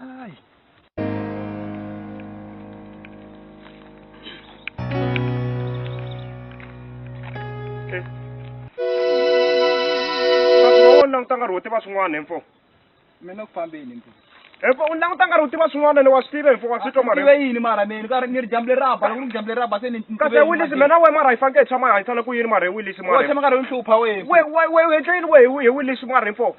Ay. u languta nkarhi wo tiva swin'wana hemfo mina ku fambeni mpo hemfo u languta nkarhi wo tiva swin'wana ni wa swi tiva hemfo wa swi twa mara tive yini mara meni ka ni ri dyambu leri raba loko ni dyambu leri raba se ni kasi wilisi mina we mara hi faneke hi tshama hi hanyisana ku yini mara hi wilisi mara tshama nkarhi yo hlupha we we we we u endle yini we hi wilisi mara hemfo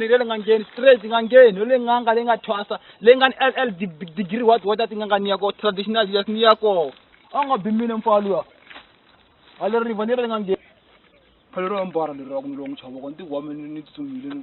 ngani le nga ngeni straight nga ngeni le nga nga le nga thwasa le nga ni ll degree what what ti nga nga ni ya ko traditional yes ni ya ko a nga bimile mfalo ya a le riva ni le nga ngeni phalo ro ambara le ro ku ni lo n'wi chava ko ni ti home ni tsutsumile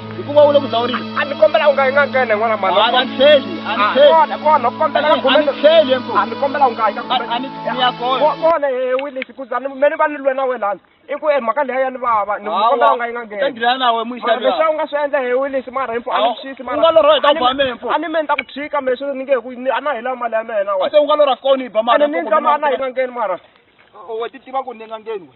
hikuva u le ku dzawuleni a ni kombela u nga yi nga nghene n'wana mhani a ni tlheli a ni tlheli kona kona u kombela ka a ni khumeka tlheli enkulu a ni kombela u nga yi ka A- a ni ni ya kona Ko- kona he wilisi ku zani me ni va ni lwe na wena lani i ku e mhaka leya ya ni vava ni Hawa, kombela u nga yi nga u ta ngheni ngirana na wena mara muxavi leswi a wu nga swi endla he wilisi mara himfu a ni Hawa, xisi u nga lorha hi ta ba mina, mfo. a ni me ni ta ku tshika me swi ni nge ku ni- a na hela mali ya mina wena se u nga lorha koni ba ene ni ndza ma a na yi nga ngheni mara we ti tiva ku ni nga ngeni we